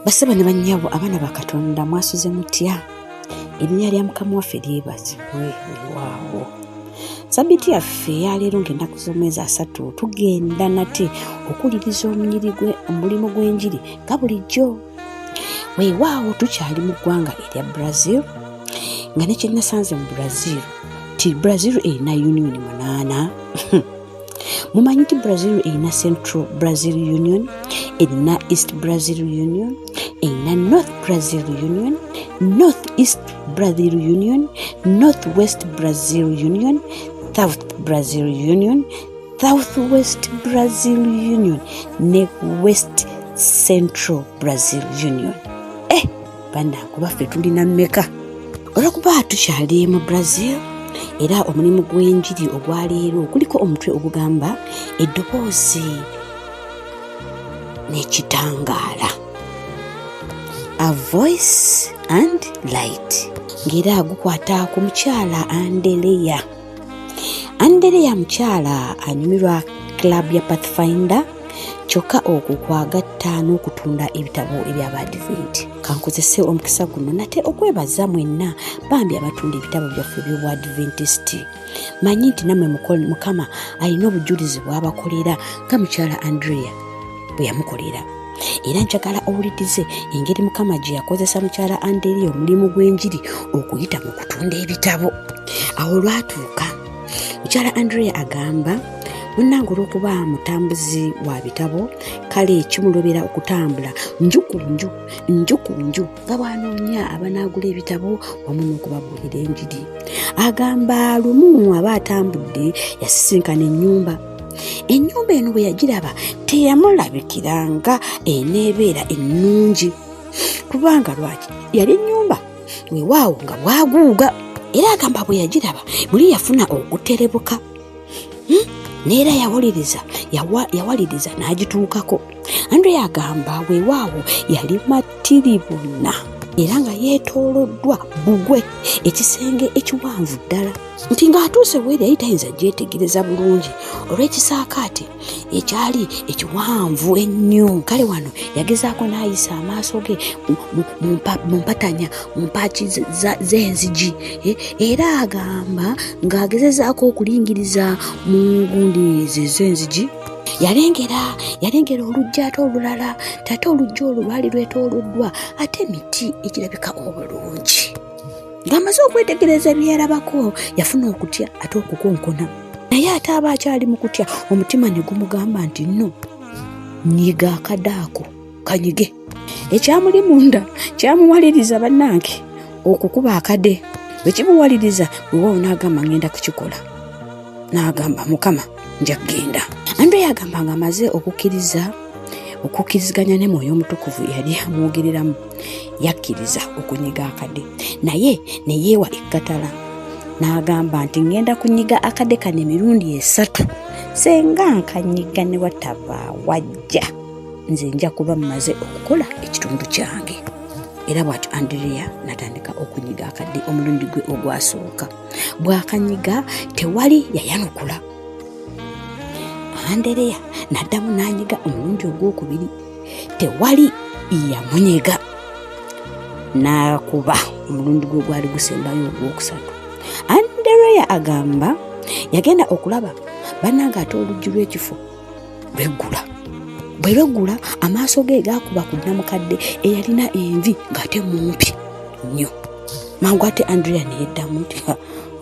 basaba ne bannyabo abaana ba katonda mwasuze mutya erinnya lya mukama waffe lyebazibwe olwawo sabiti yaffe yaleero ng'ennaku z'omwezi asatu tugenda nate okuwuliriza omunyiri gwe omulimu gw'enjiri nga bulijjo weewaawo tukyali mu ggwanga erya brazil nga nekyenasanze mu brazil ti brazil erina union munaana mumanyi nti brazil erina central brazil union erina east brazil union erina north brazil union north east brazil union north west brazil union south brazil union south west brazil union ne west central brazil union eh banaku baffe tulina meka olwokuba tukyali mu brazil era omulimu gw'enjiri ogwaleero kuliko omutwe ogugamba eddoboozi n'ekitangaala a voice and light ng'era gukwata ku mukyala andeleya andereya mukyala anyumirwa club ya pathfinder kyokka okwo kwagatta n'okutunda ebitabo ebya badiventi kankozese omukisa guno nate okwebaza mwenna bambi abatunda ebitabo byaffe byobwadventist manyi nti nammwe mukama alina obujulizi bwabakolera nga mukyala andrea bwe yamukolera era njagala owulirize engeri mukama gye yakozesa mukyala anderi omulimu gw'enjiri okuyita mu kutunda ebitabo awo olwatuuka mukyala andrea agamba munnange olw'okuba mutambuzi wa bitabo kale kimulobera okutambula nju ku nju nju ku nju nga bwanoonya abanaagula ebitabo wamu n'okubabuulira enjiri agamba lumu aba atambudde yasisinkana ennyumba ennyumba eno bwe yagiraba teyamulabikira nga eneebeera ennungi kubanga lwaki yali ennyumba wewaawo nga bwaguuga era agamba bwe yagiraba muli yafuna okuterebuka hmm? neera yawuliriza yawaliriza n'agituukako andre agamba wewaawo yali matiribuna era nga yeetooloddwa bugwe ekisenge ekiwanvu ddala nti ng'atuuse bweri yali tayinza gyetegereza bulungi olw'ekisaakaate ekyali ekiwanvu ennyo kale wano yagezaako n'ayisa amaaso ge mu mpatanya mu mpaaki z'enzigi eh, era agamba ng'agezezaako okulingiriza mu ngundi ze z'enzigi yalengera yalengera olujja ate olulala tate olujja olwo lwali lwetooloddwa ate emiti egirabika obulungi ng'amaze okwetegereza bye yalabako yafuna okutya ate okukonkona naye ate aba akyali mu kutya omutima ne gumugamba nti nno nyiga akade ako kanyige ekyamuli munda kyamuwaliriza bannange okukuba akade bwe kimuwaliriza wewawo n'agamba ngenda kukikola n'agamba mukama nja kugenda andre yagamba nga amaze okukkiriza okukkiriziganya ne mwoyo omutukuvu yali amwogereramu yakkiriza okunyiga akade naye ne yeewa ekkatala n'agamba nti ŋŋenda kunyiga akade kano emirundi esatu senga nkanyiga ne wataba wajja nze nja kuba mmaze okukola ekitundu kyange era bwatyo andrea natandika okunyiga akadde omulundi gwe ogwasooka bwakanyiga tewali yayanukula andereya naddamu n'anyiga omulundi ogwokubiri tewali yamunyega n'akuba omulundi gwe gwali gusembayo ogwokusatu andereya agamba yagenda okulaba banange ate oluggi lw'ekifo lweggula bwe lweggula amaaso ge gaakuba ku nnamukadde eyalina envi ng'ate mumpi nnyo mangu ate andrea neyeddamu nti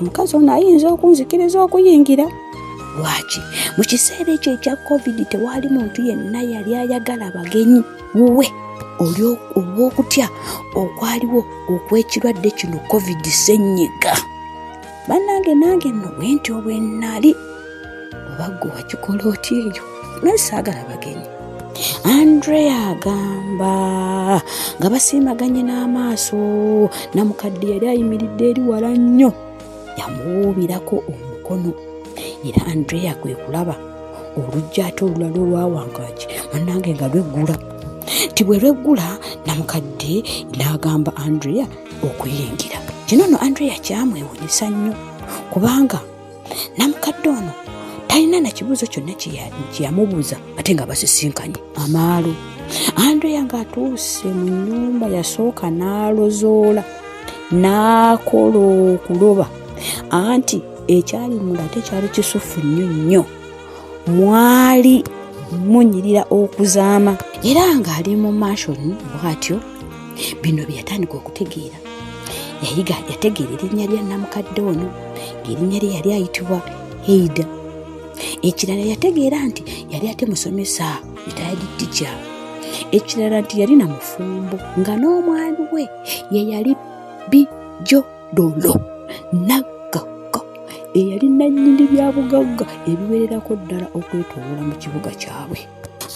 omukazi ono ayinza okunzikiriza okuyingira lwaki mu kiseera ekyo ekya covid tewaali muntu yenna yali ayagala bagenyi wuwe olw'okutya okwaliwo okw'ekirwadde kino covid senyiga bannange nange nno bwe nti obwe nnali oba ggwe wakikola otya eyo naye saagala bagenyi andrea agamba nga basiimaganye n'amaaso namukadde yali ayimiridde eri wala nnyo yamuwuubirako omukono era andrea kwe kulaba olujja ate olulala olwawangaki bannange nga lweggula nti bwe lweggula namukadde n'agamba andrea okuyingira kino no andrea kyamwewunyisa nnyo kubanga namukadde ono talina na kibuuzo kyonna kyeyamubuuza ate nga basisinkanye amaalo andrea ng'atuuse mu nnyumba yasooka n'alozoola n'akola okuloba anti ekyali munda ate kyali kisufu nnyo nnyo mwali munyirira okuzaama era ng'ali mu mashoni bw'atyo bino bye yatandika okutegeera yayiga yategeera erinnya lya namukadde ono ng'erinnya lye yali ayitibwa heida ekirala yategeera nti yali ate musomesa ritayadi tica ekirala nti yali na mufumbo nga n'omwami we ye yali bijodolo naggagga eyali nannyini byabugagga ebiwererako ddala okwetoola mu kibuga kyabwe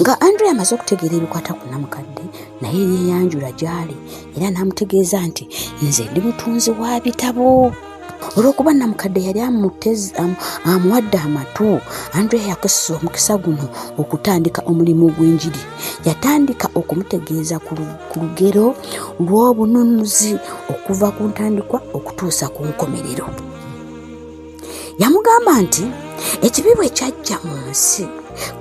nga andre amaze okutegeera ebikwata ku namukadde naye yeeyanjula gy'ali era n'amutegeeza nti nze ndi mutunzi wa bitabo olw'okuba namukadde yali amuwadde amatu andre yakozesa omukisa guno okutandika omulimu gw'enjiri yatandika okumutegeeza ku lugero lw'obununuzi okuva ku ntandikwa okutuusa ku nkomerero yamugamba nti ekibi bwe kyajja mu nsi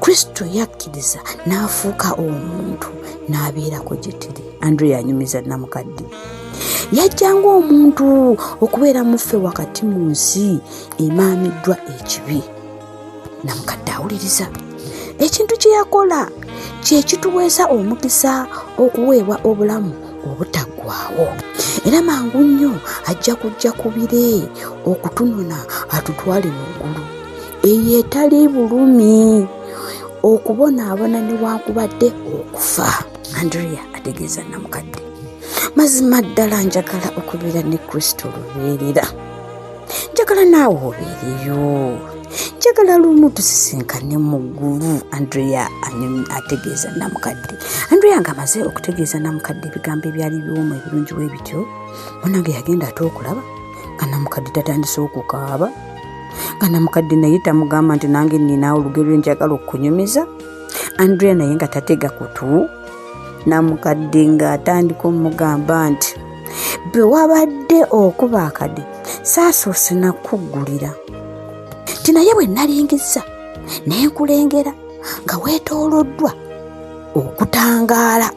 kristo yakkiriza n'afuuka omuntu n'abeerako gye tiri andrew yanyumiza namukadde yajjanga omuntu okubeera muffe wakati mu nsi emaamiddwa ekibi namukadde awuliriza ekintu kye yakola kye kituweesa omukisa okuweebwa obulamu obutaggwawo era mangu nnyo ajja kujja ku bire okutunona atutwale mu ggulu eyo etali bulumi okubonaabona newankubadde okufa andrea ategeeza namukadde mazima ddala njagala okubeera ne kristo lubeerera njagala naawe obeereyo njagala lumu tusisinkane mu ggulu andrea ategeeza namukadde andrea nga amaze okutegeeza namukadde ebigambo ebyali biwomu ebirungi we bityo munange yagenda ate okulaba nga namukadde tatandise okukaaba nga namukadde naye tamugamba nti nange ninaawo olugero lwenjagala okukunyumiza andrea naye nga tatega kutu namukadde ng'atandika omugamba nti bwe wabadde okuba akade saasoose nakuggulira nti naye bwe nalingiza ne nkulengera nga weetooloddwa okutangaala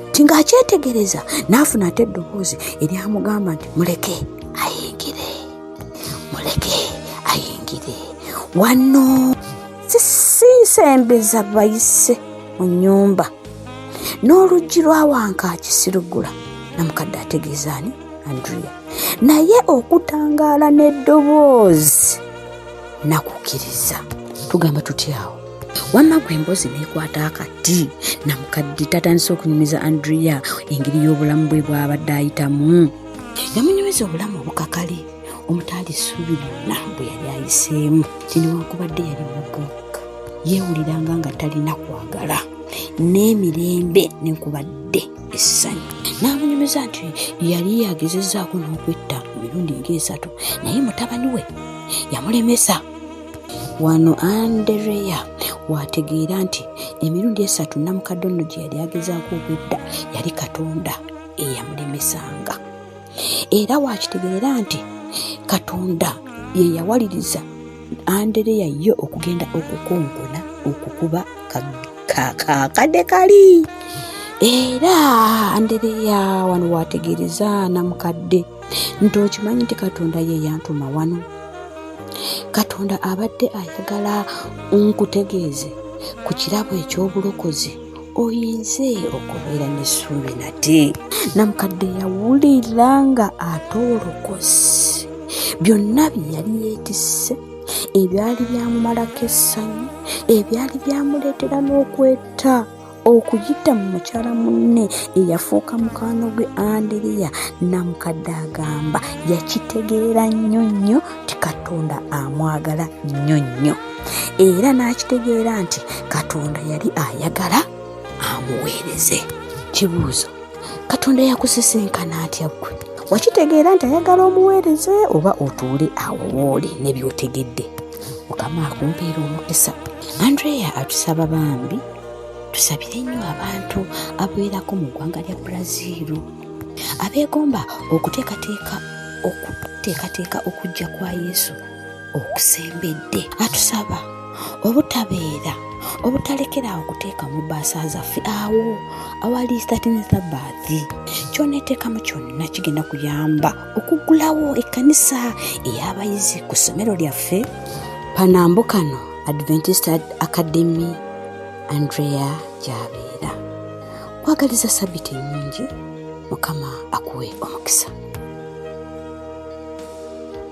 nti ng'akyetegereza n'afuna ate eddoboozi eryamugamba nti muleke ayingire muleke ayingire wano sisembeza bayise mu nyumba n'oluggi lwa wankaaki siruggula namukadde ategeeza ani andrea naye okutangaala n'eddoboozi nakukkiriza tugamba tutyawo wamma gwe emboozi neekwata akati namukadde tatandise okunyumiza andrea engeri y'obulamu bwe bwabadde ayitamu yamunyumiza obulamu obukakale omutaali ssuubi lyonna bwe yali ayiseemu tinewankubadde yali mubuuka yeewuliranga nga talina kwagala n'emirembe nekubadde essanyu n'amunyumiza nti yali yagezezaako n'okwetta emirundi ng'esatu naye mutabani we yamulemesa wano andereya waategeera nti emirundi esatu namukadde ono gye yali agezaako okwetta yali katonda eyamulemesanga era waakitegeera nti katonda ye yawaliriza Andereya ye okugenda okukonkona okukuba kakade kali era Andereya wano wategeereza namukadde nti okimanyi nti katonda ye yantuma wano katonda abadde ayagala nkutegeeze ku kirabo eky'obulokozi oyinze okubeera n'essuubi nate namukadde yawulira nga ate olokosi byonna bye yali yeetisse ebyali byamumalako essanyu ebyali byamuleetera n'okweta okuyita mu mukyala munne eyafuuka mukwano gwe andiriya namukadde agamba yakitegeera nnyo nnyo ti katonda amwagala nnyo nnyo era n'akitegeera nti katonda yali ayagala amuweereze kibuuzo katonda yakusisinkana atya ggwe wakitegeera nti ayagala omuweereze oba otuule awo wooli ne byotegedde mukama akumpeera omukisa andreya atusaba bambi tusabire nnyo abantu abeerako mu ggwanga lya brazil abeegomba okuteekateeka okuteekateeka okujja kwa yesu okusembedde atusaba obutabeera obutalekeraawo kuteeka mu baasa zaffe awo awali statinitha baathi kyoneteekamu kyonna kigenda kuyamba okuggulawo ekkanisa ey'abayizi ku ssomero lyaffe panambo kano adventist academy andrea gyabeera kwagaliza sabiti ennungi mukama akuwe omukisa